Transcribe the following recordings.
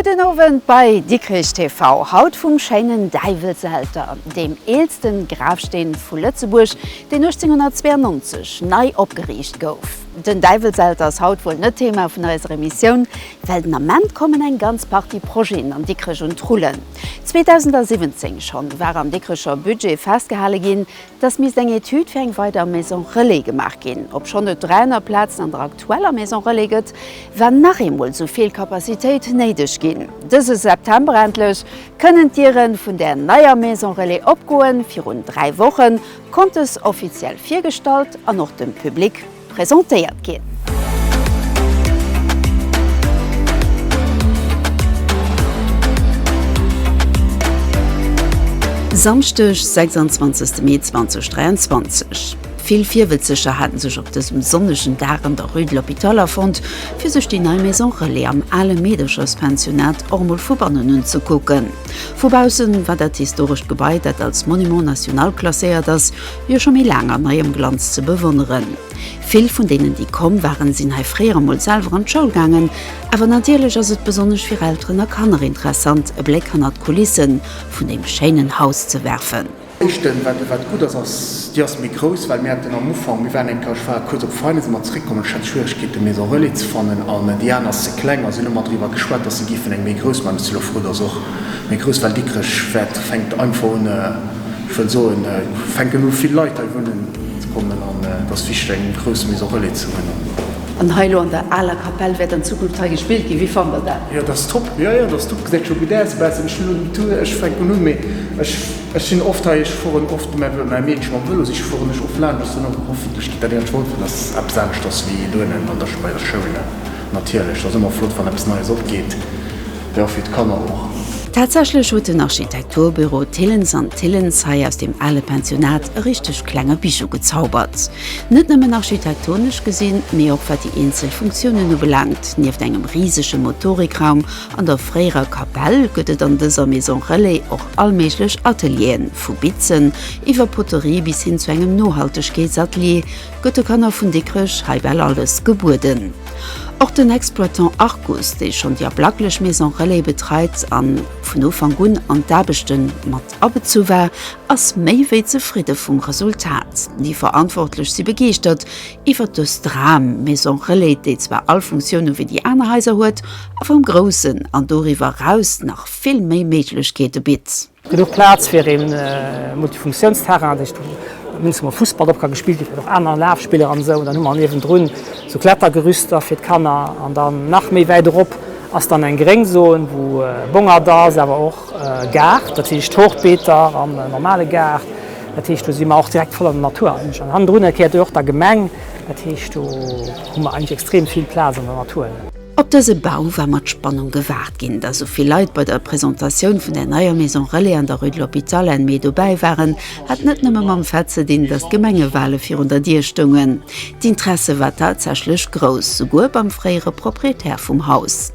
Gudden Owend bei Dikrich TV, haut vum schéinen Däiwelselter, deem eelsten Grafsteen vu Lëtzebuerg, deen 1892 nei opgeriicht gouf. Den Däiwelselter ass haut wuel net Thema vun eiser Emissioun, well den Ament kommen eng ganz Partie Projeten an Dikrech un d'Rullen. 2017 schonn war am Dikricher Budget festgehale ginn, dass misst eng Etüd fir eng weider Maison relais gemaach ginn, obschonn et dräi aner Plazen an der aktueller Maison relais gëtt, war nach eemol esou vill Capacitéit néideg ginn. Dëse September endlech kënnen d'Diere vun där neier Maison relais opgoen. Virun dräi Woche konnt dës offiziell virgestallt an och dem Public. presentéiert ginn. Samschdeg, 26 Mee 2023. Vill Virwëtzeger haten sech op dësem sonnegen Dag an der Rue de l'Hôpital afonnt, fir sech déi nei Maison Relais am ale Meedercherspensionnat och mol vu bannen unzekucken. Vu baussen war dat historescht Gebai, dat als Monument national klasséiert ass, jo scho méi laang an neiem Glanz ze bewonneren. Vill vun deenen déi komm waren sinn hei fréier emol selwer an d'Schoul gaangen. Awer natierlech ass et besonnesch fir Elteren a Kanner interessant e Bléck hannert d'Kulisse vun deem schéinen Haus ze werfen. Éischten, wat gutt ass, ass, déi ass méi grouss, well mir haten am Ufank, mir waren eng Plage, ech war kuerz op Veine si mer zeréckkomm an ech hat Schwieregkeete Maison Relais ze fannen an déi aner ass ze kleng a si hu lemmer driwwer geschwat, datt se géifen eng méi grouss man. D'Xylophron ass och méi grouss, well Dikrech fänkt einfach un, Ech wëll soen, et fänken u vill Leit hei wunnen ze kommen an et ass wichteg eng grouss Maison relais ze hunn. An hei elo an der aler Kapell wäert an Zukunft hei gespillt ginn. Wéi fannt der dat? Jo, dat ass top. Jo, jo, dat ass top. Gesäit scho gutt aus e bessen. Ech hunn elo den Tour, ech fänken un, mee ech, ech sinn oft hei, ech fueren oft mä mäi Meedche mam Vëlo, si fueren ech oft laanscht. Ass dann och, hoffentlech geet dat iech holfen, dass eppes aneschters wéi dohennen an der, bei der Schoul natierlech. Ass ëmmer flott, wann eppes Neies opgeet. Jo, fir d'Kanner och. Tatsächlech huet den Architekturbüro Thillens an Thillens hei aus deem ale Pensionat e richteg klenge Bijou gezaubert. Net nëmmen architektonesch gesinn, mee och wat déi eenzel Funktiounen ubelaangt, nieft engem risege Motorikraum an der fréierer Kapell gëtt et an dëser Maison Relais och allméiglech Atelieren, vu Bitzen iwwer Poterie bis hin zu engem Nohaltegkeetsatelier, gëtt de Kanner vun Dikrech hei bal alles gebueden. Och den Exploitant Arcus, dee schonn déi ablaklech Maison Relais betreit a vun Ufank un an d'Aarbechte mat abezu war, ass méi wéi zefridde vum Resultat. Déi Verantwortlech si begeeschtert iwwert dës Dram-Maison Relais, déi zwar all Funktioune wéi déi aner Haiser huet, awer am Groussen an doriwwer eraus nach vill méi Méiglechkeete bitt. Genuch Plaz fir ee Multifunktiounsterrain, dat heescht Dings wou Fussball drop ka gespillt ginn, och aner Lafspiller an esou. Dann hu mer niewendrun sou Klettergerüster fir d'Kanner an dann nach méi wäit erop ass dann eng gréng Zone wou Bongert ass, awer och Gaart, dat heescht Hochbeeter an e normale Gaart. Dat heescht do si mer och direkt voll an der Natur eigentlech an hannendrun erkläert och der Gemeng. Dat heescht do hu mer eigentlech extrem vill Plaz an der Natur. Op dëse Bau war mat Spannung gewaart ginn. Datt sou vill Leit bei der Presentatioun vun der neier Maison Relais an der Rue de l'Hôpital Enne Mee dobäi waren, hat net nëmme mam Fait ze dinn, datt d'Gemengewale virun der Dier stoungen. D'Interesse war tatsächlech grouss, souguer beim fréiere Proprietär vum Haus.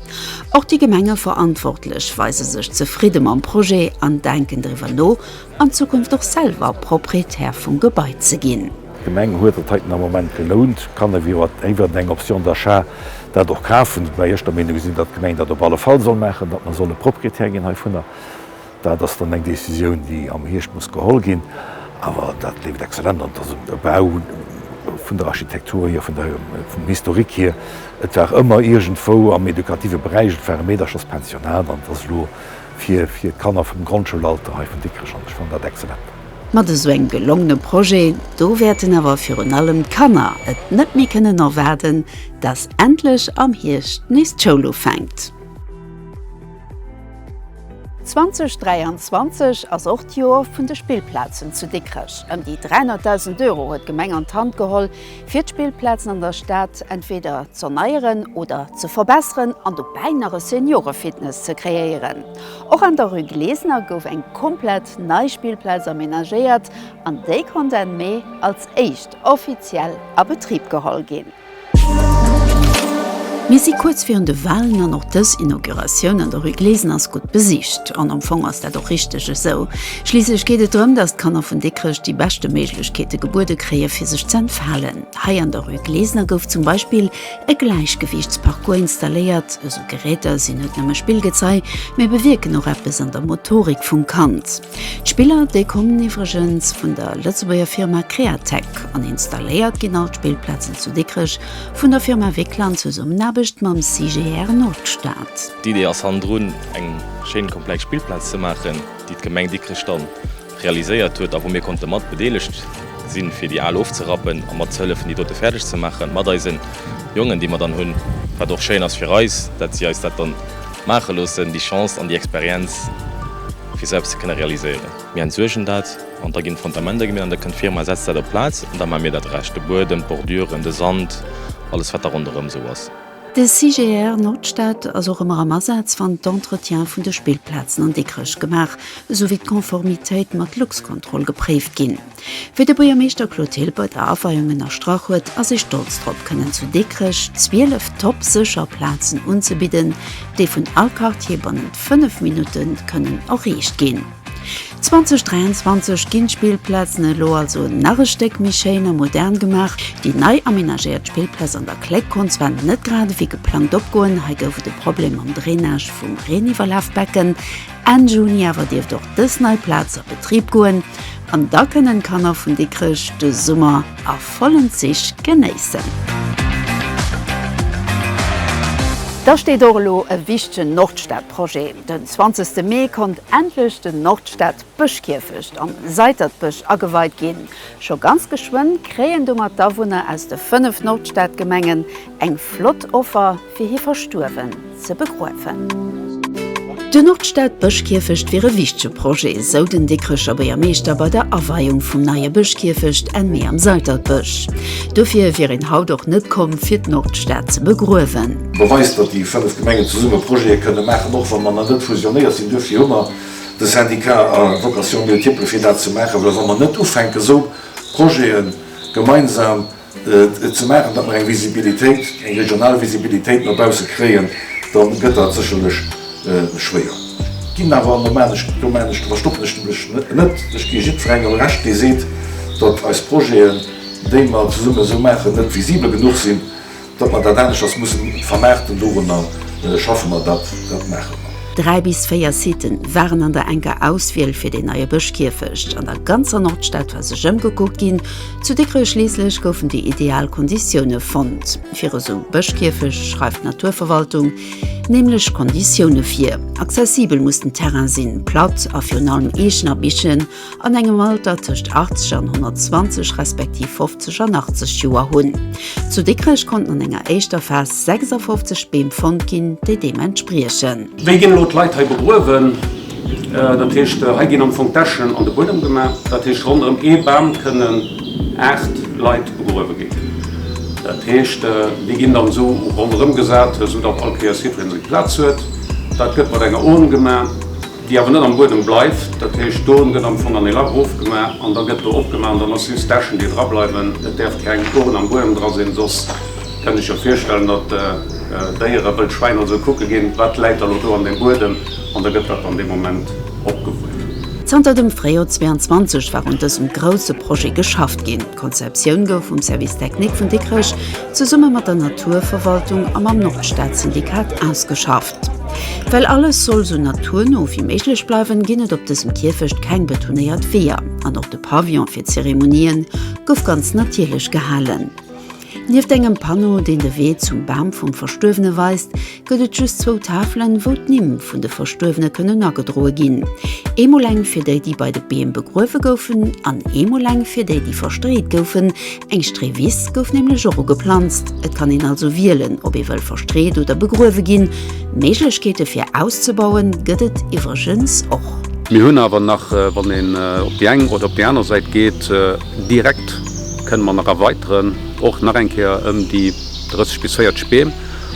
Och déi Gemengeverantwortlech weise sech zefridde mam Projet an denken driwwer no, an Zukunft och selwer Proprietär vum Gebai ze ginn. D'Gemeng huet et heiten am Moment gelount, kann ewéi iwwert eng Option d'achat dat och kafen, woubäi ech der Meenung sinn, datt d'Gemeng dat op alle Fall soll maachen, datt mer solle Proprietär ginn heivunner. Dat ass dann eng Décisioun, déi am Hierscht muss geholl ginn. Awer dat leeft exzellent an der Summe, de Bau, vun der Architektur hier, vun der, vum Historique hier. Et war ëmmer iergendwou am educative Beräich, et war e Meedercherspensionat an et ass elo, Fir fir d'Kanner vum Grondschoulalter hei vun Dikrech an ech fannen dat excellent. Mat esou engem gelongene Projet do wäerten awer virun allem d'Kanner et net méi kënnen erwaarden, dass endlech am Hierscht nees d'Schoul ufänkt. 2023 ass och d'Joer vun de Spillplazen zu Dikrech. Ëm déi 300.000 Euro huet d'Gemeng an d'Hand geholl, fir d'Spillplazen an der Stad entweder z'erneieren oder ze verbesseren an dobäi nach e Seniorefitness ze kreéieren. Och an der rue Glesener gouf eng komplett nei Spillplaz amenagéiert an déi konnt Enn Mee als éischt offiziell a Betrib geholl ginn. Mir si kuerz virun de Walen an och dës Inauguratioun an der rue Glesener ass gutt besicht. An am Fong ass dat och richteg esou. Schliisslech geet et drëm, datt d'Kanner vun Dikrech déi beschte Méiglechkeete gebuede kréie fir sech ze entfalen. Hei an der Rue Glesener gouf zum Beispill e Gläichgewiichtsparcours installéiert. Esou Geräter sinn net nëmme Spillgezei, mee bewierken och eppes an der Motorik vum Kand. D'Spiller, déi kommen iwwregens vun der Lëtzebuerger Firma Createc an installéiert ginn all d'Spillplazen zu Dikrech vun der Firma Wickler an Zesummenaarbecht mam CGR Nordstad. D'Idee ass hannendrun eng schéin komplex Spillplaz ze maachen. déi d'Gemeng Dikrech dann realiséiert huet a wou mir konnte mat bedeelegt sinn, fir déi al ofzerappen a mat ze hëllefen, déi dote fäerdeg ze maachen, mat eise Jongen, déi mer dann hunn, wat och schéin ass fir eis, dat si eis dat dann maache loossen, déi Chance an déi Experienz, fir sou eppes ze kënne realiséieren. Mir entsuergen dat an da ginn d'Fondamenter gemeet an da kënnt d'Firma, setzt dat op d'Plaz an da maache mir dat Rescht, de Buedem, d'Bordüren, de Sand, alles, wat da ronderëm esou ass. De CGR Nordstad ass och ëmmer am Asaz wann d'Entretiens vun de Spillplazen an Dikrech gemaach esouwéi d'Konformitéit mat Luxcontrol gepréift ginn. Wéi de Buergermeeschter Claude Hill bei der Aweiung ënnerstrach huet, ass ee stolz drop kënnen zu Dikrech 12 top sécher Plazen unzebidden, déi vun all Quartier bannent 5 Minutte kënnen erreecht ginn. 2023 ginn d'Spillplazen elo also nach e Stéck méi schéin a modern gemaach. Déi nei amenagéiert Spillplaz an der Kléck konnt zwar net grad ewéi geplangt opgoen, hei gouf et e Problem mam Drainage vum Reeniwwerlafbecken. Enn Juni awer dierft och dës nei Plaz a Betrib goen an da kënnen d'Kanner vun Dikrech de Summer a vollen Zich genéissen. Da steet och elo e wichtegen Nordstad-Projet. Den zwanzegste Mee konnt endlech den Nordstad Bëschkierfecht am Seitertbësch ageweit ginn. Scho ganz geschwënn kréien domat d'Awunner aus de 5 Nordstadgemengen eng flott Offer fir hir Verstuerwen ze begruewen. Den Nordstad Bëschkierfecht wier e wichtege Projet, esou den Dikrecher Buergermeeschter bei der Aweiung vum neie Bëschkierfecht Enn Mee am Seitertbësch. Dofir wier een haut och net komm fir d'Nordstad ze begruewen. Beweist, datt déi 5 Gemengen zesumme Projete kënne maachen, och wa mer nach net fusionéiert sinn. Duerfir hu mer de Syndicat a Vocation multiple fir dat ze maachen, well wa mer net ufänken, esou Projete gemeinsam ze maachen, datt mer eng Visibilitéit, eng regional Visibilitéit no bausse kréien, da gëtt dat sécherlech schwéier. Ech ginn awer, an do maachen ech, do maachen ech, do verstoppen ech mech net, ech gi jiddwerengem Recht, dee seet, datt eis Projeten, déi mer zesumme esou maachen, net visibel genuch sinn. Datt mer dat anescht ass mussen vermaarten, dorunner schaffe mer, dat maache mer. Dräi bis véier Siten waren an der enker Auswiel fir deen neie Bëschkierfecht. An der ganzer Nordstad war sech ëmgekuckt ginn. Zu Dikrech schliisslech goufen déi ideal Konditioune fonnt. Fir esou e Bëschkierfecht schreift d'Naturverwaltung nämlech Konditioune vir. Accessibel muss den Terrain sinn, platt a virun allem Eechen a Bichen an engem Alter tëscht 80 an 120 respektiv 50 an 80 Joer hunn. Zu Dikrech konnten an enger éischter Phas 56 Beem fonnt ginn, déi deem entspriechen. Wéi ginn elo d'Leit hei begruewen? Dat heescht, hei ginn am Fong d'Äschen an de Buedem gemaach. Dat heescht, ronderëm ee Bam kënnen aacht Leit begruewe ginn. Dat heescht, déi ginn dann esou ronderëm gesat, soudatt all Kéiers jiddwereen seng Plaz huet. Dat gëtt mat enger Urn gemaach. déi awer net am Buedem bleift, dat heescht d'Ohren gëtt am Fong an e Lach erofgemaach an da gëtt do opgemaach an dann ass just d'Äschen déi dra bleiwen. Et däerf keng Ohren am Buedem dra sinn, soss kënnt Iech jo virstellen, datt Déiere, wëll Schwäin oder sou, kucke ginn, wat läit da lo do an deem Buedem an da gëtt dat an deem Moment opgewuert. Zanter dem Fréijoer 22 war un dësem grousse Projet geschafft ginn. D'Konzeptioun gouf vum Service technique vun Dikrech zesumme mat der Naturverwaltung a mam Nordstad-Syndikat ausgeschafft. Well alles soll sou naturno wéi méiglech bleiwen, ginn et op dësem Kierfecht keng betonéiert Weeër an och de Pavillon fir d'Zeremonien gouf ganz natierlech gehalen. Nieft engem Panno, deen de Wee zum Bam vum Verstuerwene weist, gëtt et just zwou Tafelen, wou d'Nimm vun de Verstuerwene kënnen agedroe ginn, eemol eng fir déi, déi bei de Beem begruewe goufen an eemol eng fir déi, déi verstreet goufen. Eng Streewiss gouf nämlech och ugeplanzt. Et kann een also wielen, ob ee wëll verstreet oder begruewe ginn. Méiglechkeete fir auszebauen gëtt et iwwregens och. Mir hunn awer nach, wann een op déi eng oder op déi aner Säit geet, direkt kënne mer nach erweiteren, och nach eng Kéier ëm déi 30 bis 40 Beem.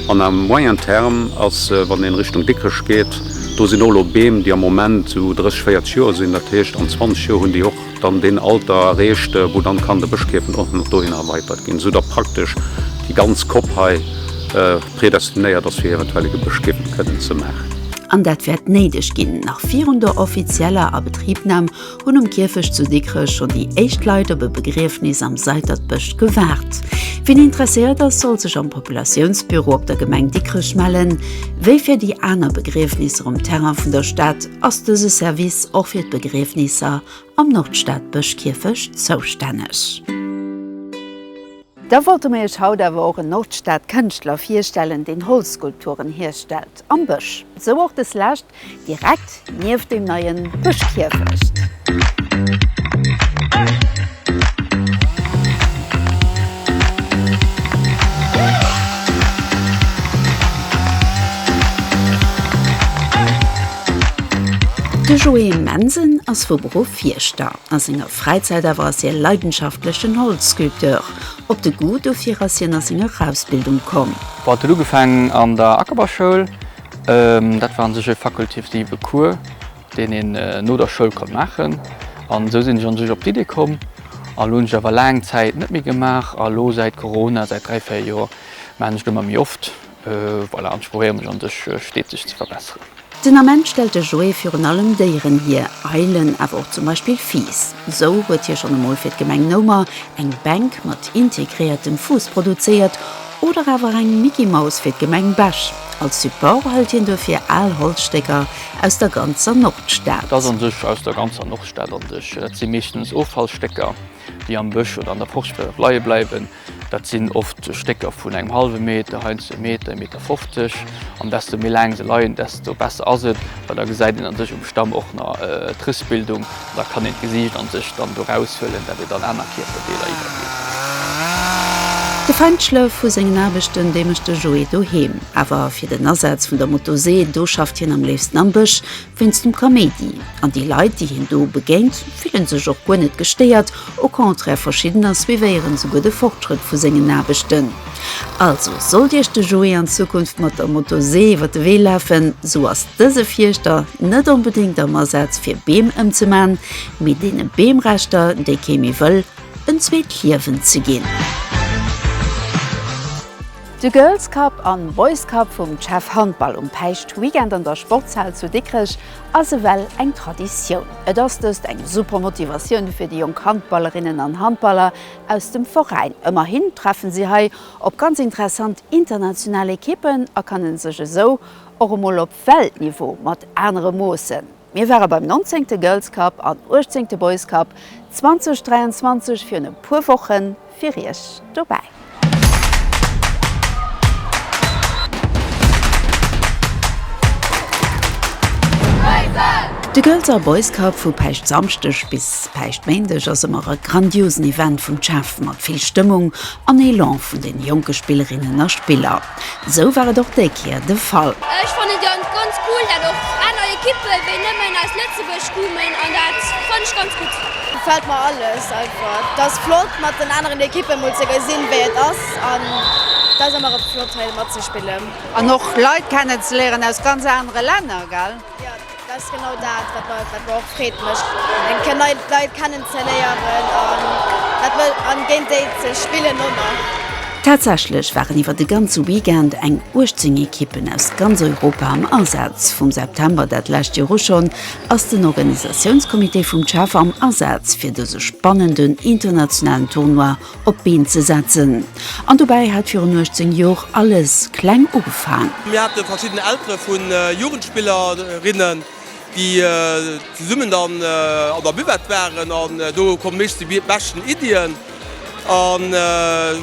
An à moyen terme ass, wann ee Richtung Dikrech geet, do sinn och elo Beem, déi am Moment esou 30, 40 Joer sinn, dat heescht an 20 Joer hunn déi och dann deen Alter erreecht, wou dann kann de Bëschkierfen och nach dohinner erweitert ginn, esou datt praktesch déi ganz Kopp hei predestinéiert ass fir eventuell e Gebëschkierfen kënnen ze maachen. An dat wäert néideg ginn. Nach virun der offizieller Abetribnam hunn um Kierfecht zu Dikrech schonn déi éischt Leit op e Begriefnis am Seidertbësch gewaart. Wien interesséiert ass, soll sech am Populatiounsbüro op der Gemeng Dikrech mellen, wéi fir déi aner Begriefnisser um Terrain vun der Stad. Ass dëse Service och fir d'Begriefnisser am Nordstadbëschkierfecht zoustänneg? Da wollte mir iech haut awer och en Nordstadkënschtler virstellen, deen Holzskulpturen hierstellt am Bësch. Sou och des lescht direkt nieft dem neien Bëschkierfecht. De Joé Mensen ass vu Beruff Fierschter. A senger Fräizäit awer ass hie leidenschaftlechen Holzsculpteur. Op de Goût dofir ass hien a senger Ausbildung komm. Bon, et huet ugefaangen an der Ackerbausschoul. Dat war un sech e fakultativen Cours. deen een no der Schoul konnt maachen. An esou sinn ech an sech op d'Iddi komm. A lo hunn ech awer laang Zäit net méi gemaach. A lo säit Corona, säit dräi, véier Joer maachen ech do emmer méi oft. Voilà, an ech probéiere mech an sech steeteg ze verbesseren. Den Ament stellt de Joé virun allem Déieren hier, Eilen, awer och zum Beispill Fiiss. Esou huet hie schonn emol fir d'Gemeng Noumer eng Bänk mat integréiertem Fuuss produzéiert, Oder awer eng Micky-Maus fir d'Gemeng Bech. Als Support hëlt hien duerfir al Holzstécker aus der ganzer Nordstad. Dass an sech aus der ganzer Nordstad an sech. Dat si meeschtens Offallstécker, déi am Bësch oder an der Forst wäerte leie bleiwen. Dat sinn oft Stécker vun engem hallwe Meter, heiansdo ee Meter, ee Meter 50. An desto méi laang se leien, desto besser ass et, well da gesäit een an sech um Stamm och nach d'Rissbildung. Da kann een d'Gesiicht an sech dann do raushuelen, dat et an aner Kierperdeeler iwwergeet. De Feinschlëff vu sengen Aarbechten, déi mécht de Joé doheem. Awer fir den Asaz vun der Motosee, do schafft hien am léifsten am Bësch, wéinst dem Kaméidi. An déi Leit, déi hien do begéint, fillen sech och guer net gestéiert, au contraire, verschiddener suivéieren souguer de Fortschrëtt vu sengen Aarbechten. Also, sollt Iech de Joé an Zukunft mat der Motosee iwwer de Wee lafen, sou ass dëse Fierschter net onbedéngt am Asaz fir Beem ëmzeman, mee deene Beemreschter, déi kee méi wëll, en zweet Liewen ze ginn. De Girls Cup an Boys Cup vum CHEV Handball um Päischt Weekend an der Sportshal zu Dikrech ass ewell eng Traditioun. Et ass dëst eng super Motivatioun fir déi jonk Handballerinnen an Handballer, aus dem Veräin. Ëmmerhin treffen si hei op ganz interessant international Ekippen a kannen sech esou och emol op Weltniveau mat anere moossen. Mir ware beim nonzéngte Girls Cup an uechtzéngte Boys Cup 2023 virun e puer Woche fir Iech dobäi. De Girls a Boys Cup vu Päischt Samschdeg bis Päischtméindeg ass ëmmer e grandiosen Event vum CHAFF mat vill Stëmmung an Elan vun den jonke Spillerinnen a Spiller. Esou war et och déi Kéier de Fall. Ech fannen et ganz ganz cool dat och aner Equippen wéi nëmmen aus Lëtzebuerg kumen an dat fannen ech ganz gutt. Gefällt mer alles einfach. Et ass flott mat den aneren Equippen mol ze gesinn wéi et ass an et ass ëmmer flott hei matzespillen. An och Leit kennen ze léieren aus ganz anere Länner gell. Jo, dat ass genau dat, wat mer wat mer och Freed mécht, eng Kéier nei Leit kennen ze léieren an dat wëll an géint déi ze spillen och nach. Tatsächlech waren iwwer de ganze Weekend eng 18 Ekippen aus ganz Europa am Asaz. Vum September dat lescht Joer u schonn ass den Organisatiounscomité vum CHEV am Asaz fir dëse spannenden internationalen Tournoi op d'Been ze setzen. An dobäi hat virun 18 Jor alles kleng ugefaang. Mir hate verschidden Eltere vu Jugendspillerinnen, déi zesummen dann an der Buvette waren. An do hu meeschtens déi beschten Iddien an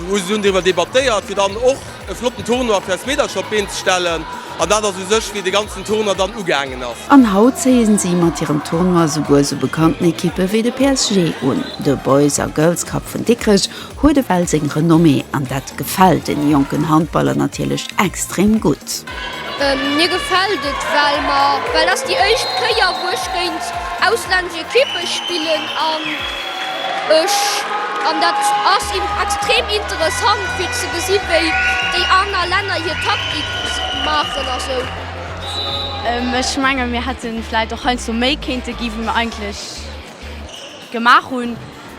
hu se dunn driwwer debattéiert, fir dann och. E flotten Tournoi fir eis Meedercher op d'Been ze stellen. An dat ass u sech wéi de ganzen Tournoi dann ugaangen ass. An haut zéie si mat hirem Tournoi souguer sou bekannten Ekippe wéi de PSG un. De Boys a Girls Cup vun Dikrech huet ewell seng Renommée an dat gefält den jonken Handballer natierlech extrem gutt. Mir gefält et well mer, well ass déi éischt Kéier wou ech géint auslännesch Ekippe spillen an ech an dat ass extrem interessant fir ze gesi wéi déi aner Länner hir Taktik maachen a sou. Ech menge mir hätte vläit och heiansdo méi kéinte gi wéi mer eigentlech. Gemaach hunn,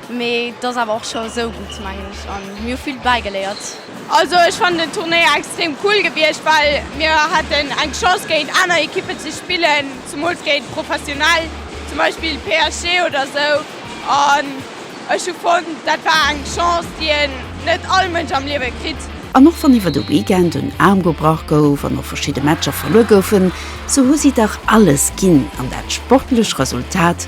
mee et ass awer och scho esou gutt, mengen ech, a mir hu vill dobäi geléiert. Also ech fannen den Turnéier extrem cool gewiescht, well mir haten eng Chance géint aner Ekippen ze spillen, zemools géint professionell, zum Beispill PSG oder esou, an ech hu fonnt, dat war eng Chance, déi een net all Mënsch am Liewe kritt. An och wann iwwer de Weekend en Aarm gebrach gouf an och verschidde Matcher verluer goufen, sou hu si dach alles ginn an dat sportlech Resultat,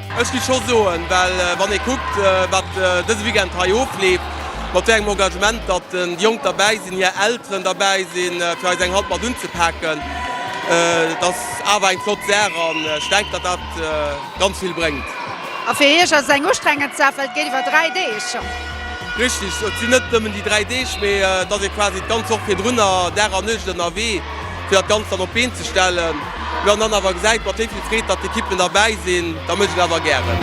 Ech giff scho soen, well wann ee kuckt wat dëse Weekend hei ofleeft, mat wéi engem Engagement datt déi Jonk derbäi sinn, hir Elteren derbäi sinn fir eis eng Hand mat unzepaken, et ass awer eng flott Saach an ech denken datt dat ganz vill bréngt. A fir Iech ass et eng ustrengend Saach, well et geet iwwer 3 Deeg. Richteg, et sinn net nëmmen déi 3 Deeg, mee et ass ee quasi d'ganz Woch virdrunner Dag an Nuecht ënnerwee. fir dat Ganzt dann op d'Been ze stellen. Mä wann dann awer gesäit, mat wéi vill Freed datt d'Ekippen derbäi sinn, da mécht et awer gären.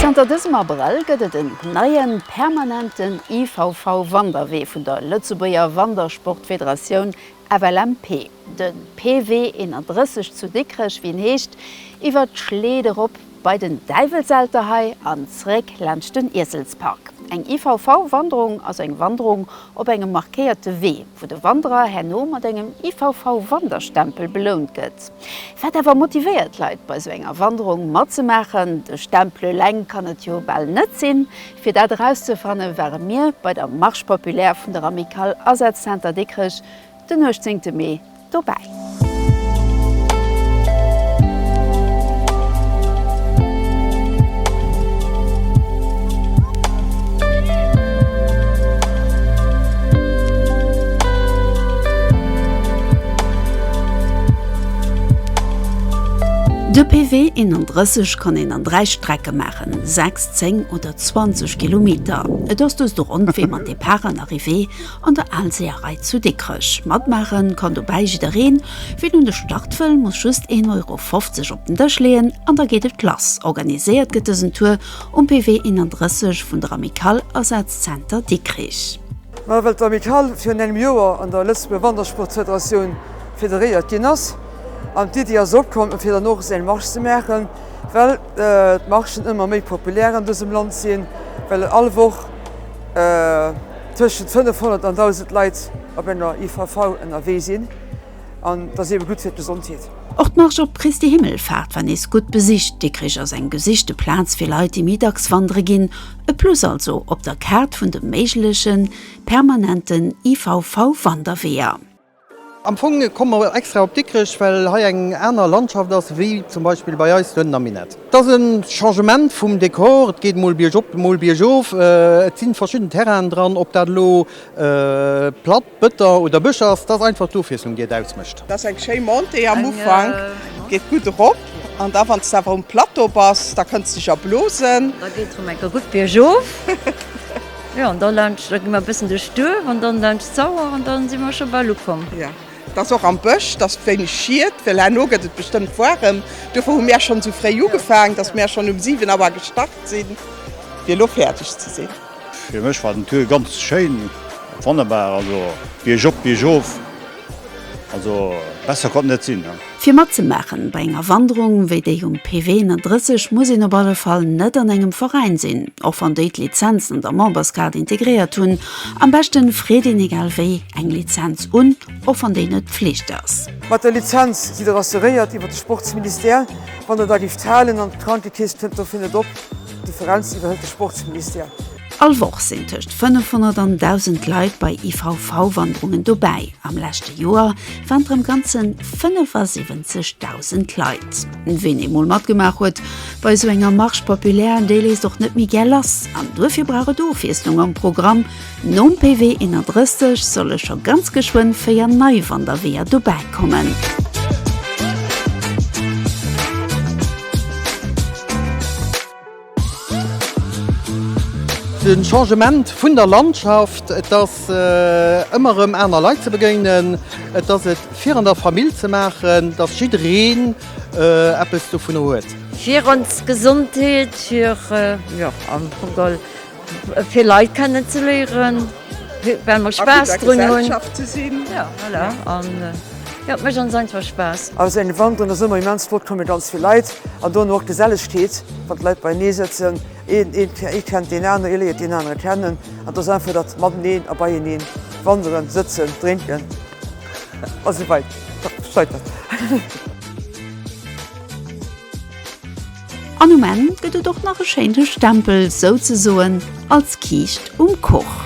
Zanter dësem Abrëll gëtt et en neien, permanenten IVV-Wanderwee vun der Lëtzebuerger Wandersportfederatioun FLMP, de PW 31 zu Dikrech, wéi en heescht, iwwer d'Schleed erop bei den Däiwelselter hei an zeréck laanscht den Ieselspark. Eng IVV-Wanderung ass eng Wanderung op engem markéierte Wee, wou de Wanderer herno mat engem IVV-Wanderstempel belount gëtt. Wat awer motivéiert d'Leit bei esou enger Wanderung matzemaachen? De Stempel eleng kann et jo bal net sinn. Fir dat erauszefanne ware mir bei der Marche populaire vun der Amicale Asazzentre Dikrech den 18 Mee dobäi. De PV 31 kann een an 3 Strecke maachen, 6. 10 oder 20 Kilometer. Et ass dëst och onbequem an Depart an Arrivée an der Aalseeërei zu Dikrech. Matmaachen kann dobäi jiddereen. Ween un de Start wëll, muss just een Euro 50 op den Dësch leeën an da geet et lass. Organiséiert gëtt dësen Tour um PW 31 vun der Amicale Asaz Zenter Dikrich. Ma well d'Amicale virun engem Joer an der Lëtzebuerger Wandersportfederatioun federéiert ginn ass an d'Iddi ass opkomm fir dann och esou eng Marche ze maachen, well. D'Marchen ëmmer méi populär an dësem Land sinn, well all Woch tëschent 500 an 1.000 Leit op enger IVV ënnerwee sinn an et ass eebe gutt fir d'Gesondheet. Och d'Marsch op Christi Himmelfaart war nees gutt besicht. Dikrich ass eng gesichte Plaz fir Leit, déi méi dacks wandere ginn. E Plus also op der Kaart vun de méigleche permanenten IVV-Wanderweeër. Am Fong komme mer extra op Dikrech, well hei eng aner Landschaft ass wéi zum Beispill bei eis dohennen am Minett. Et ass e Changement vum Dekor, et geet mol biergop, mol biergof. Et si verschidden Terrainen dran, ob dat elo Platt, Bëtter oder Bësch ass, et ass einfach d'Ofwiesslung, déi et ausmécht. Dat ass eng schéi Montée am Ufank, geet gutt erop an da wann s de awer um Plateau bass, da kënns de dech erblosen. Da geet et erëm eng Kéier gutt biergof. Jo, an da laanscht, da gi mer e bëssen duerch d'Duerf an dann laanscht d'Sauer an dann si mer scho bal ukomm. Jo, et ass och am Bësch, et ass wéineg Schied, well herno gëtt et bestëmmt woarem. Duerfir hu mär schonn esou fréi ugefaang, dass mär schonn um 7 Auer gestart sinn, fir elo fäerdeg ze sinn. Fir mech war den Tour ganz schéin, wonnerbar, also Bierg op, Bierg of. Also besser konnt net sinn. Fir matzemaachen bei enger Wanderung wéi déi um PW 31 muss een op alle Fall net an engem Veräin sinn, och wann déi d'Lizenzen an der Memberskaart integréiert hunn. Am beschten freet een egal wéi eng Lizenz un, och wann déi net Pflicht ass. Mat der Lizenz sidd der assuréiert iwwer de Sportsministère, wann der der giff halen an d'Krankekeess kënnt dofir net op. D'Differenz iwwerhëlt de Sportsministère. All Woch sinn tëscht 500 an 1.000 Leit bei IVV-Wanderungen dobäi. Am leschte Joer waren et rëm ganze 75.000 Leit. Ween eemol matgemaach huet bei esou enger Marche populaire, déi léisst och net méi gär lass. An duerfir brauch et Ofwiesslung am Programm. Nom PW 31 solle scho ganz geschwënn véier nei Wanderweeër dobäi kommen. De Changement vun der Landschaft, et ass ëmmer erëm aner Leit ze begéinen, et ass et fir an der Famill ze maachen, datt jiddereen eppes dovunner huet. Fir ons Gesondheet, fir, jo am Fong geholl. Fir Leit kennen ze léieren, well mer Spaass drun hunn. Et mécht ons einfach Spaass. Ass en Event an der Summer immens flott, komme ganz vill Leit an dono och d'Gesellegkeet, wann d'Leit beienee sëtzen. Ee kennt deen aneren, ee léiert deen anere kennen an et ass einfach dat Mateneen a Beieneen, Wanderen, Sëtzen, Drénken a sou weider. An um Enn gëtt et och nach e schéinte Stempel, souzesoen als Kiischt um Kuch.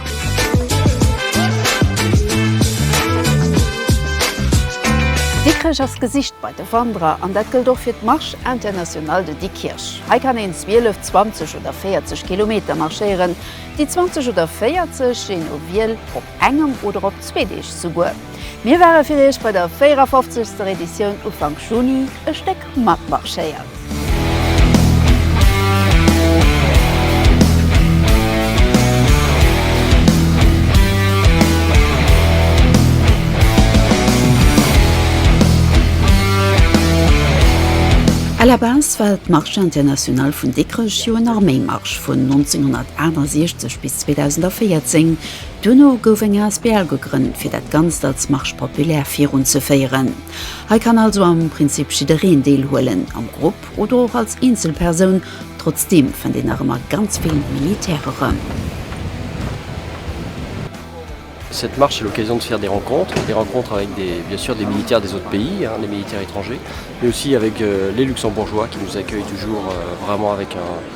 Dikrech ass gesicht bei de Wanderer an dat gëllt och fir d'Marche Internationale de Dikkirch. Hei kann een 12, 20 oder 40 Kilometer marschéieren. Déi 20 oder 40, jee no Wiel, op engem oder op zwee Deeg souguer. Mir ware fir Iech bei der 54. Editioun Ufank Juni e Stéck. matmarschéiert. À la base war d'Marche internationale vun Dikrech jo en Arméimarsch vun 1968 bis 2014. Duerno gouf eng asbl gegrënnt, fir dat Ganzt als Marche populaire virunzeféieren. Hei kann also am Prinzip jiddereen deelhuelen, am Grupp oder och als Eenzelpersoun. Trotzdeem fënnt een nach ëmmer ganz vill Militär erëm. Cette marche est l'occasion de faire des rencontres, des rencontres avec des, bien sûr, des militaires des autres pays, des militaires étrangers, mais aussi avec les Luxembourgeois qui nous accueillent toujours vraiment avec un.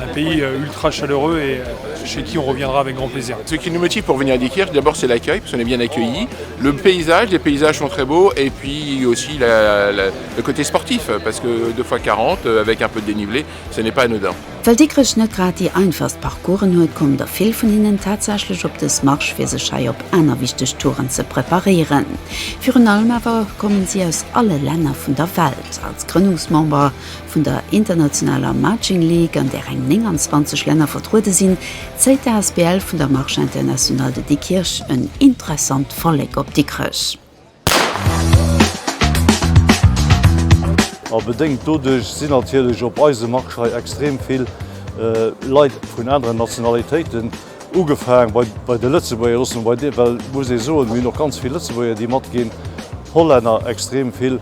Un pays ultra chaleureux et chez qui on reviendra avec grand plaisir. Ce qui nous motive pour venir à Diekirch d'abord c'est l'accueil parce qu'on est bien accueilli, le paysage, les paysages sont très beaux et puis aussi la la le côté sportif parce que deux fois 40 avec un peu de dénivelé ce n'est pas anodin. Well Dikrech net grad déi einfachst Parcoursen huet, kommen der vill vun hinnen tatsächlech op dës Marsch fir sech hei op aner wichteg Touren ze preparéieren. Virun allem awer kommen si aus alle Länner vun der Welt. Als Grënnungsmember Vun der internationaler Marching League, an där eng 29 Länner vertruede sinn, zéit d'ASBL vun der Marche Internationale de Dikrich en interessant Vollek op Dikrech. A bedéngt doduerch sinn natierlech op eise Marche hei extrem vill Leit vun aneren Nationalitéiten. Ugefaang bei de Lëtzebuerger, loosse mer bei deem, well et muss ee soen, mir hunn och ganz vill Lëtzebuerger, déi matginn, Hollänner extrem vill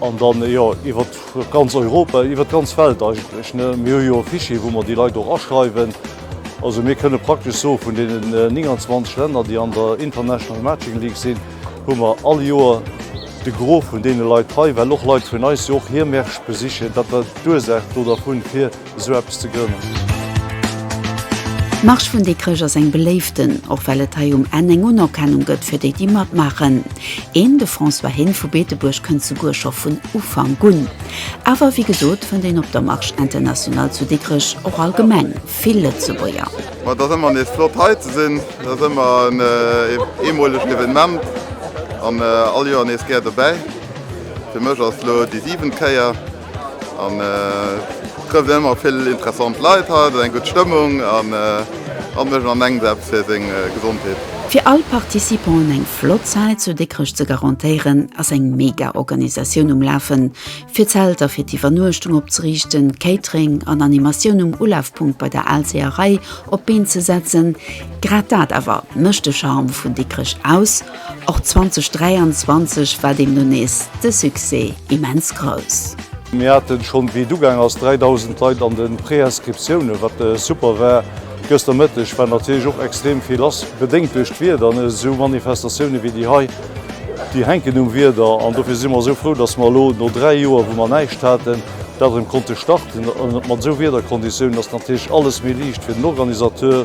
an da jo iwwert ganz Europa, iwwert d'ganz Welt eigentlech. Mir hu jo e Fichier, wou mer déi Leit och aschreiwen. Also mir kënne praktesch soe vun deenen 29 Länner, déi an der International Matching League sinn, hu mer all Joer de Gros vun deene Leit hei, well och Leit vun eis jo och hir Märsch besichen. Dat war d'Ursaach do dervun, fir esou eppes ze grënnen. D'Marsch vun Dikrech ass eng beléiften, och well et hei um Enn eng Unerkennung gëtt fir déi, déi matmaachen. Een, de François Heen vu Beetebuerg, kënnt souguer scho vun Ufank un. Awer wéi gesot fënnt een op der Marche Internationale zu Dikrech och allgemeng vill Lëtzebuerger. Ma et ass ëmmer nees flott hei ze sinn. Et ass ëmmer en eemolegt Evenement an all Joer nees gär dobäi. Fir mech ass elo déi siwent Kéier. An ech trëfft ëmmer vill interessant Leit hei, et ass eng gutt Stëmmung an an ech ernengen eppes fir seng Gesondheet. Fir all Participanten eng flott Zäit zu Dikrech ze garantéieren, ass eng mega Organisatioun um Lafen, fir Zelter fir d'Iwwernuechtung opzeriichten, Catering an Animatioun um Ulafpunkt bei der Alséeërei op d'Been ze setzen. Grad dat awer mécht de Charme vun Dikrech aus. Och 2023 war deemno nees de Succès immens grouss. Mir haten schonn wéi et ugaang ass 3.000 Leit an den Préinscriptiounen, wat super war. Gëster Mëtteg war natierlech och extrem vill lass, bedéngt duerch d'Wieder, an esou Manifestatiounen wéi déi hei, déi hänken um Wieder. An dofir si mer esou frou, dass mer elo no 3 Joer wou mer näischt haten, dat erëm konnte starten. An mat esou Wiederkonditiounen ass natierlech alles méi liicht fir den Organisateur.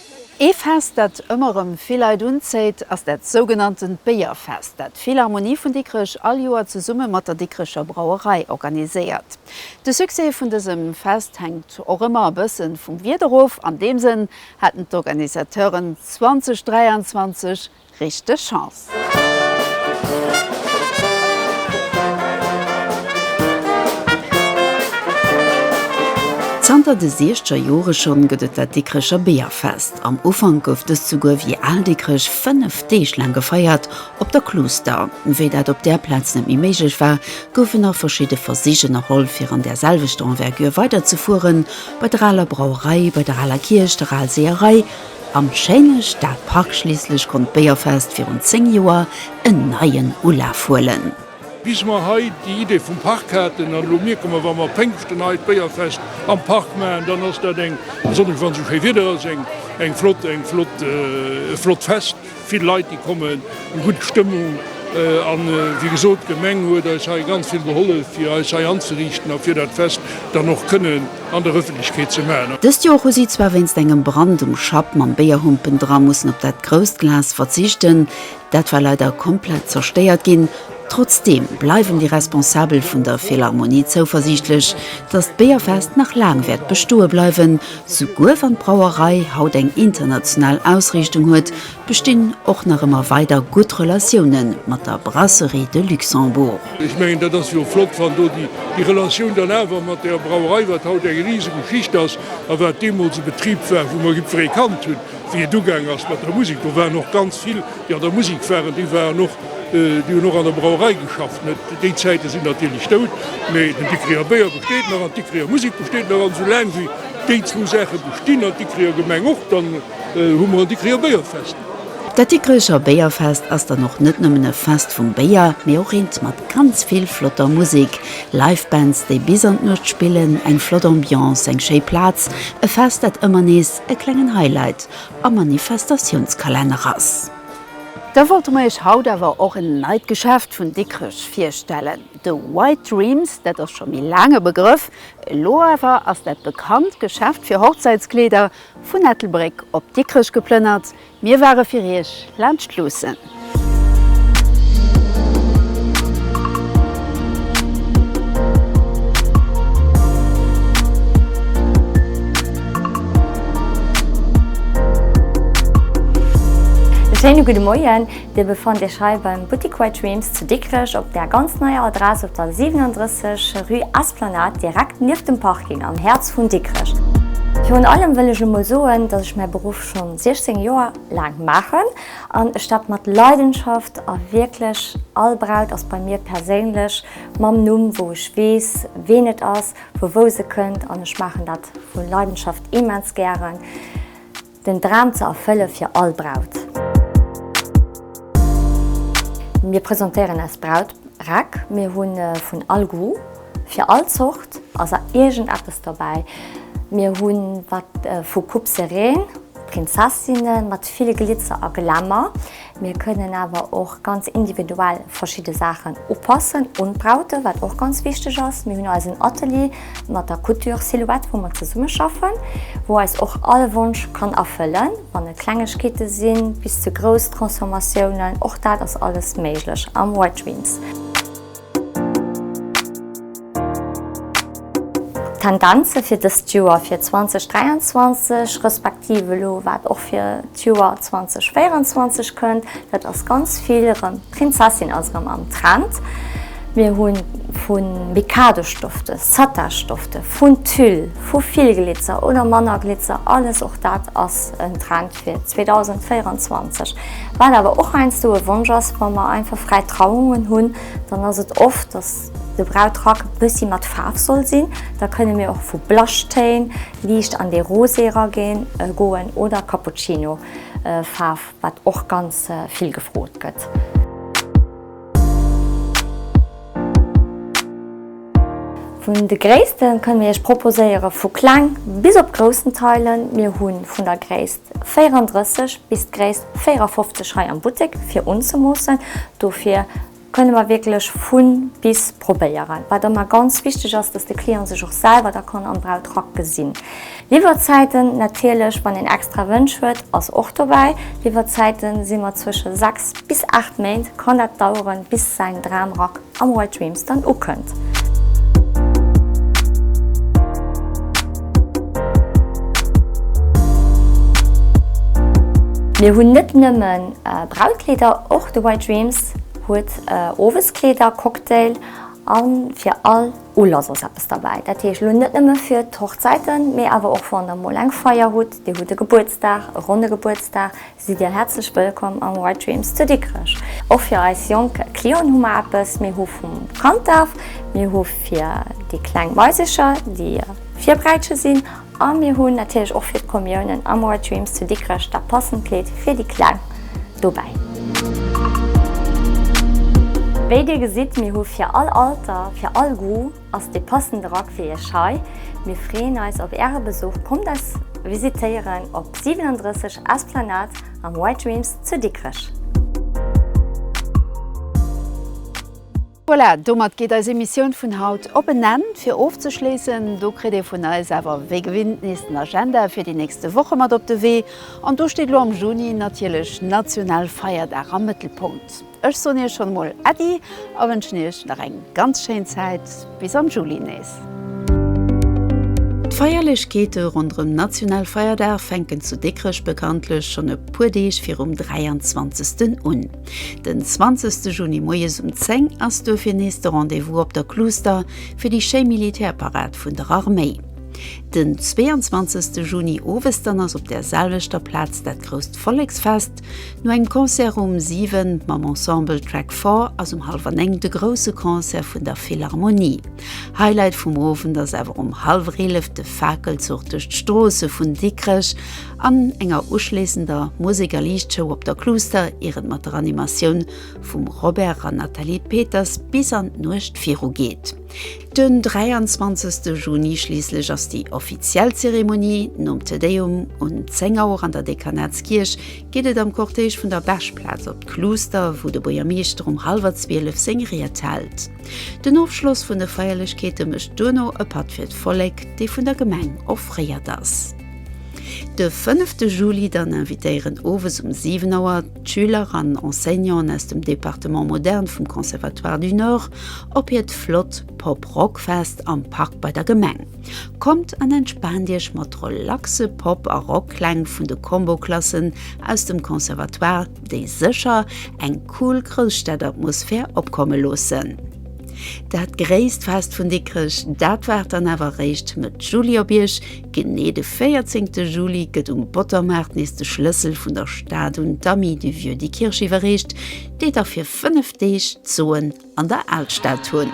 Ee Fest, dat ëmmer erëm vill Leit unzéit, ass dat sougenanntent Béierfest, dat d'Philharmonie vun Dikrech all Joer zesumme mat der Dikrecher Brauerei organiséiert. De Succès vun dësem Fest hänkt och ëmmer e bësse vum Wieder of. An deem Sënn haten d'Organisateuren 2023 Richteg Chance! Zanter de siechzeger Jore schonn gëtt et dat Dikrecher Beerfest. Am Ufank gouf dëst souguer wéi Al Dikrech 5 Deeg laang gefeiert op der Kluuster. Wéi dat op där Plaz net méi méiglech war, goufen nach verschidde Versich ënnerholl fir an där selwechter Envergure weiderzefueren, bei der aler Brauerei, bei der aler Kierch, der Alseeërei, Am schéine Stadpark schliisslech konnt d'Béierfest virun 10 Joer en neien Ulaf huelen. Bis mer hei déi Idee vum Park haten, an elo mierke mer, wa mer Péngschten hei d'Béierfest am Park maachen, dann ass dat eng, besonnesch wann esou schéi Wieder ass, eng flott, eng flott, e flott Fest. Vill Leit déi kommen, eng gutt Stëmmung an wéi gesot d'Gemeng huet eis hei ganz vill gehollef fir eis hei anzeriichten a fir dat Fest dann och kënnen an der Ëffentlechkeet ze maachen. Dëst Joer hu si zwar wéinst engem Brand um Schapp mam Béierhumpen dra mussen op dat grousst Glas verzichten, dat war leider komplett zerstéiert ginn. Trotzdeem bleiwen déi Responsabel vun der Philharmonie zouversiichtlech, datt d'Béierfest nach laang wäert bestoe bleiwen, Souguer wann d'Brauerei haut eng international Ausriichtung huet, bestinn och nach ëmmer weider gutt Relatioune mat der Brasserie de Luxembourg. Ech mengen, dat ass jo flott, wann do déi Relatioun dann awer mat der Brauerei, wat haut eng riseg Geschicht ass a wat deemools e Betrib war, wou mer Gipferi kannt hunn, wéi et ugaang ass mat der Musek. Do waren och ganz vill, déi an der Musek waren, déi waren och Déi hunn och an der Brauerei geschafft. Déi Zäite sinn natierlech dout, mee den Dikricher Béier besteet nach an d'Dikricher Musik besteet nach. An esoulaang wéi déi zwou Saache bestinn, an d'Dikricher Gemeng och, dann hu mer en Dikricher Béierfest. Dat Dikricher Béierfest ass dann och net nëmmen e Fest vum Béier, mee och eent mat ganz vill flotter Musik, Live-Bands, déi bis an d'Nuecht spillen, eng flott Ambiance, eng schéi Plaz, e Fest, dat ëmmer nees e klengen Highlight am Manifestatiounskalenner ass. Da wollte mer iech haut awer och en neit Geschäft vun Dikrech virstellen. De White Dreams, dat ass scho méi laang e Begrëff, elo awer ass dat bekannt Geschäft fir Hochzäitskleeder vun Ettelbréck op Dikrech geplënnert. Mir ware fir iech laanscht luussen. E schéine gudde Moien, Dir befannt Iech hei beim Buttik White Dreams zu Dikrech op der ganz neier Adress op der 37 rue Esplanade, direkt nieft dem Parking, am Häerz vun Dikrech. Virun allem wëll ech emol soen, dass ech mäi Beruff scho 16 Joer laang maachen an ech dat mat Leidenschaft a wierklech all Braut ass bei mir perséinlech mam Numm, wou ech weess, ween et ass. vu wou se kënnt an ech maachen dat vu Leidenschaft immens gären, den Dram ze erfëlle fir all Braut. Mir presentéieren eis Brauträck, mir hu vun all Goût, fir all Zort ass a iergend eppes dobäi. Mir hu wat vu Coupe serene, Prinzessinnen mat vill Glitzer a Glamour. Mir kënnen awer och ganz individuell verschidde Saachen upassen un d'Braute, wat och ganz wichteg ass. Mir hunn eisen Atelier mat der Couture Silhouette, wou mer zesumme schaffen, wou eis och all Wonsch kann erfëllen, wann et Klengegkeete sinn, bis zu grouss Transformatiounen, och dat ass alles méiglech am White Dreams. D'Tendenze fir dëst Joer, fir 2023, respektiv elo wat och fir d'Joer 2024 kënnt, dat ass ganz vill erëm, d'Prinzessin ass erëm am Trend. Mir hu vu Mikado-Stofte, Satin-Stofte, vun Tüll, vu vill Glitzer oder manner Glitzer, alles och dat ass en Trend. fir 2024. Wat awer och heiansdo e Wonsch ass, wa mer einfach fräi Trauungen hunn, dann ass et oft, dass de Brautrack e bëssi mat Faarf soll sinn. Da kënne mir och vu Blaschtéin liicht an dee Rosé erageen, goen oder Cappuccino-Faarf, wat och ganz vill gefrot gëtt. Vun de Gréisste kënne mir iech proposéiere vu kleng bis op groussen Teilen. Mir hu vun der Gréisst 34 bis d'Gréisst 54 hei am Buttek fir unzemoossen. Dofir kënne mer wierklech vu bis probéieren. Wat ëmmer ganz wichteg ass, dass de Client sech och selwer da kann am Brautrack gesinn. Liwwerzäiten, natierlech, wann een extra Wënsch huet, ass och dobäi. Liwwerzäite si mat zwësche 6 bis 8 Méint kann dat daueren, bis säin Dramrack am White Dreams dann ukënnt. Mir hunn net nëmme Brautkleeder, och de White Dreams huet Oweskleeder, Cocktail a fir all. Ulass ass eppes derbäi, dat heescht elo net nëmme fir d'Hochzäiten, mee awer och wann der mol eng Feier hutt, dir hutt e Gebuertsdag, e ronne Gebuertsdag, sidd dir häerzlech wëllkomm am White Dreams zu Dikrech. Och fir eis jonk Clienten hu mer eppes, mir hu vum Kanddaf, mir hu fir déi kleng Maisercher, déi Virbräitsche sinn, A mir hunn natierlech och fir d'Kommiounen am Our Dreams zu Dikrech dat passend Kleed fir déi Kleng dobäi. Wéi dir gesitt, mir hu fir all Alter, fir all Goût ass dee passende Rack fir iech hei. Mir freeën eis op äre Besuch, kommt eis visitéieren op 37 Esplanade am Our Dreams zu Dikrech. Voilà, domat geet eis Emissioun vun haut op en Enn. Fir ofzeschléissen, do kritt dir vun eis awer wéi gewinnt nees den Agenda fir déi nächste Woche mat op de Wee. An do steet elo am Juni natierlech Nationalfeierdag am Mëttelpunkt. Ech soen iech schonn emol Äddi a wënschen iech nach eng ganz schéin Zäit. Bis am Juli nees. D'Feierlechkeete ronderëm Nationalfeierdag fänken zu Dikrech bekanntlech schonn e puer Deeg virum 23. un. Den 20 Juni moies um 10 ass duerfir nees de Rendez-vous op der Cluster fir déi schéi Militärparad vun der Arméi. Den 22 Juni owes dann ass op där selwechter Plaz dat grousst Volleksfest. No engem Concert um 7 mam Ensemble Track Four ass um hallwer 9 de grousse Concert vun der Philharmonie. Highlight vum Owend ass awer um hallwer 11 de Fakelzuch duerch d'Stroosse vun Dikrech an enger uschléissender Musek a Liichtshow op der Cluster ier et mat der Animatioun vum Robert an Nathalie Peters bis an d'Nuecht viru geet. Den 23 Juni schliisslech ass déi offiziell Zeremonie. Nom Te Deum un 10 Auer an der Dekanatskierch geet et am Cortège vun der Bechplaz op d'Cluster, wou de Buergermeeschter um hallwer 12 seng Ried hält. Den Ofschloss vun de Feierlechkeete mécht duerno e Patt fir d'Vollek, dee vun der Gemeng offréiert ass. De fënnefte Juli dann invitéieren owes um 7 Auer d'Schüler an Enseignanten aus dem Departement Moderne vum Conservatoire du Nord op hiert flott Pop-Rock-Fest am Park bei der Gemeng. Kommt an entspaant Iech mat relaxe Pop a Rock-Kläng vun de Combo-Klassen aus dem Conservatoire, déi sécher eng cool Grousstad-Atmosphär opkomme loossen. Dat gréisst Fest vun Dikrech, dat waart dann awer eréischt Mëtt Juli op Iech. Genee de véierzéngte Juli gëtt um Bottermaart nees de Schlëssel vun der Stad un d'Amis du Vieux di Kirch iwwerreecht, déi da fir fënnef Deeg d'Zoen an der Alstad hunn.